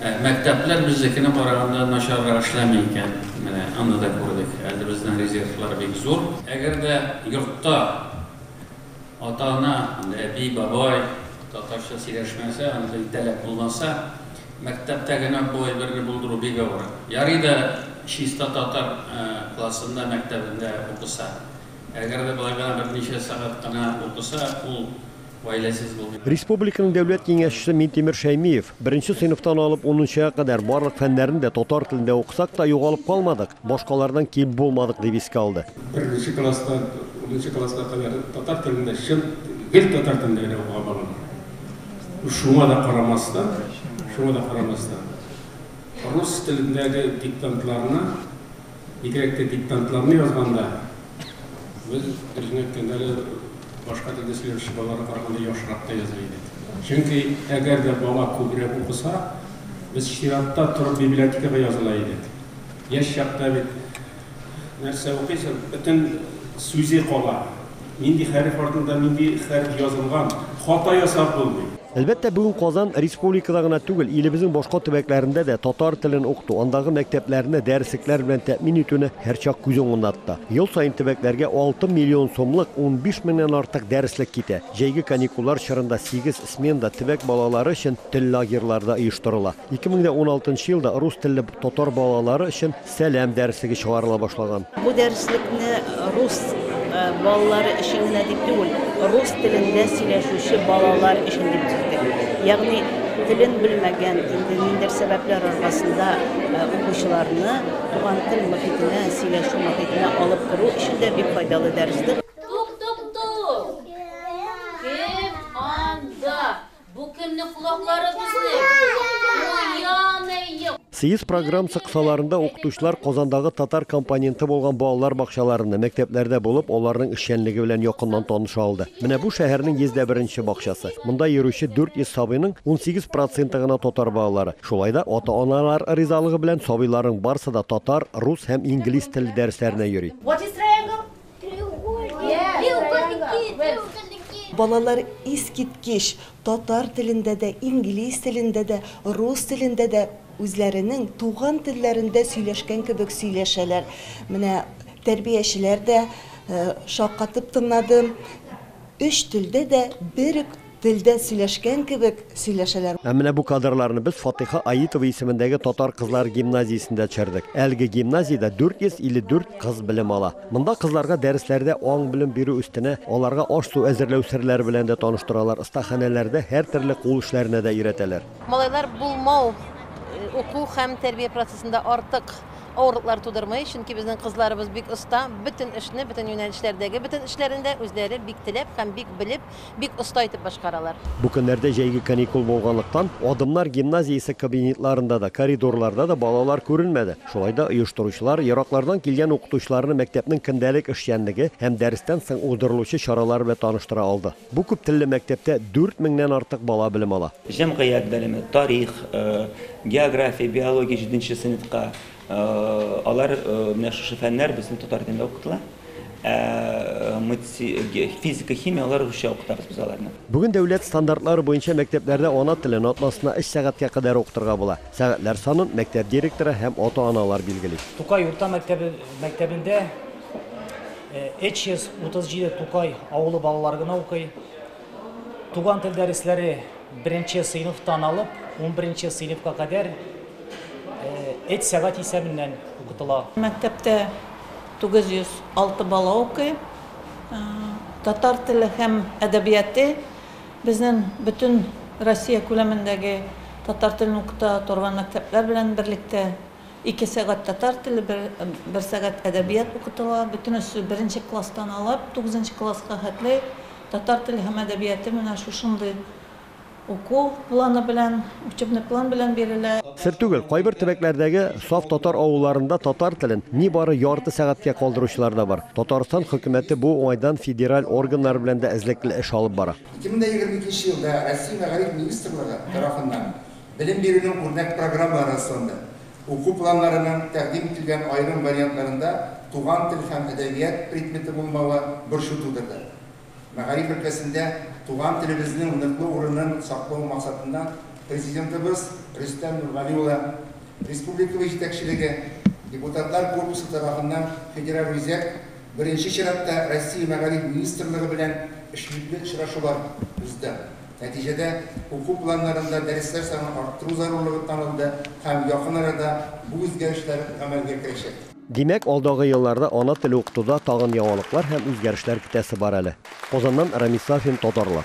Мәктәпләр безнекенә караганда начаррак эшләми икән, менә аны да күрдек. Әле безнең резервлар бик зур. Әгәр дә йортта ата-ана, әби, бабай татарча сөйләшмәсә, аны телтәләп булмаса, мәктәптә генә бу әйберне булдыру бик авыр. Ярый да чиста татар классында, мәктәбендә укыса. Әгәр дә болай гына берничә сәгать кенә укыса, ул гаиләсез булды. Республиканың дәүләт киңәшчесе Минтимер Шәймиев, Беренче сыйныфтан алып унынчыга кадәр барлык фәннәрне дә татар телендә укысак та, югалып калмадык, башкалардан ким булмадык, дип искә алды. Беренче класстан унынчы класска кадәр татар телендә, чын, гел татар телендә генә укыган балалар. Шуңа да карамастан, шуңа да карамастан, рус телендәге диктантларны, Бигрәк тә диктантларны язганда без дөресен әйткәндә әле башка телдә сөйләүче балаларга караганда яхшырак та яза идек. Чөнки әгәр дә бала күбрәк укыса, без чиратта торып библиотекага языла идек. Яшь чакта бит нәрсә укыйсың, бөтен сүзе кала. Нинди хәреф артында нинди хәреф язылган, хата ясап булмый. Әлбәттә, бүген Казан республикада гына түгел, илебезнең башка төбәкләрендә дә татар телен укыту, андагы мәктәпләрне дәреслекләр белән тәэмин итүне һәрчак күз уңында тота. Ел саен төбәкләргә алты миллион сумлык, унбиш меңнән артык дәреслек китә. Җәйге каникуллар чорында сигез сменада төбәк балалары өчен тел лагерьлары да оештырыла. Ике мең дә уналтынчы елда рус телле татар балалары өчен Сәлам дәреслеге чыгарыла башлаган. Бу дәреслекне рус балалары өчен генә дип түгел, рус телендә сөйләшүче балалар өчен дип төздек. Ягъни телен белмәгән, инде ниндидер сәбәпләр аркасында э, укучыларны туган тел мохитенә, сөйләшү мохитенә алып керү өчен дә бик файдалы дәрестер. Тук-тук-тук! Кем анда? Бу кемнең колаклары безнең? Съезд программсы кысаларында укытучылар Казандагы татар компоненты булган балалар бакчаларында, мәктәпләрдә булып, аларның эшчәнлеге белән якыннан таныша алды. Менә бу шәһәрнең 101-нче бакчасы. Монда йөрүче 400 сабыйның 18 проценты гына татар балалары. Шулай да ата-аналар ризалыгы белән сабыйларның барысы да татар, рус һәм инглиз теле дәресләренә йөри. Балалар искиткеч татар телендә дә, инглиз телендә дә, рус телендә дә үзләренең туган телләрендә сөйләшкән кебек сөйләшәләр. Менә тәрбиячеләр дә шаккатып тыңлады. Өч телдә дә бер үк Телдә сөйләшкән кебек сөйләшәләр. Ә менә бу кадрларны без Фатыйха Аитова исемендәге татар кызлар гимназиясендә төшердек. Әлеге гимназиядә 454 кыз белем ала. Монда кызларга дәресләрдә аң-белем бирү өстенә, аларга аш-су әзерләү серләре белән дә таныштыралар, остаханәләрдә һәртөрле кул эшләренә дә өйрәтәләр. Малайлар булмау уку һәм тәрбия процессында артык авырлыклар тудырмый, чөнки безнең кызларыбыз бик оста, бөтен эшне, бөтен юнәлешләрдәге бөтен эшләрен дә үзләре бик теләп һәм бик белеп, бик оста итеп башкаралар. Бу көннәрдә җәйге каникул булганлыктан, Адымнар гимназиясе кабинетларында да, коридорларда да балалар күренмәде. Шулай да оештыручылар ераклардан килгән укытучыларны мәктәпнең көндәлек эшчәнлеге һәм дәрестән соң уздырылучы чаралары белән таныштыра алды. Бу күптелле мәктәптә дүрт меңнән артык бала белем ала. Җәмгыять белеме, тарих, география, биология җиденче сыйныфка, Алар менә шушы фәннәр безнең татар телендә укытыла. Ә матси, физика, химия алар русча укытабыз без аларны. Бүген дәүләт стандартлары буенча мәктәпләрдә ана телен атнасына өч сәгатькә кадәр укытырга була. Сәгатьләр санын мәктәп директоры һәм ата-аналар билгели. Тукай урта мәктәбе мәктәбендә 337 Тукай авылы балалары гына укый. Туган тел дәресләре беренче сыйныфтан алып, унберенче сыйныфка кадәр эт сәгать исәбеннән укытыла. Мәктәптә 906 бала укый. Татар теле һәм әдәбияты безнең бөтен Россия күләмендәге татар телен укыта торган мәктәпләр белән берлектә ике сәгать татар теле, бер сәгать әдәбият укытыла. Бөтенесе беренче класстан алып тугызынчы класска хәтле. Татар теле һәм әдәбияты менә шушындый уку планы белән, учебный план белән бирелә. Сер түгел, кайбер төбәкләрдәге саф татар авылларында татар телен нибары ярты сәгатькә калдыручылар да бар. Татарстан хөкүмәте бу уңайдан федераль органнар белән дә эзлекле эш алып бара. Ике мең дә егерме икенче елда Россия мәгариф министрлыгы тарафыннан Белем бирүнең үрнәк программалары расланды. Уку планнарының тәкъдим ителгән аерым вариантларында туган тел һәм әдәбият предметы булмавы борчу тудырды. Мәгариф өлкәсендә туган телебезнең ныклы урынын саклау максатыннан Президентыбыз Рөстәм Нургали улы, республикабыз җитәкчелеге, депутатлар корпусы тарафыннан Федераль үзәк, беренче чиратта Россия Мәгариф министрлыгы белән эшлекле очрашулар узды. Нәтиҗәдә, уку планнарында дәресләр санын арттыру зарурлыгы танылды һәм якын арада бу үзгәрешләр гамәлгә керәчәк. Димәк, алдагы елларда ана теле укытуда тагын яңалыклар һәм үзгәрешләр көтәсе бар әле. Казаннан Рамис Сафин, Татарлар.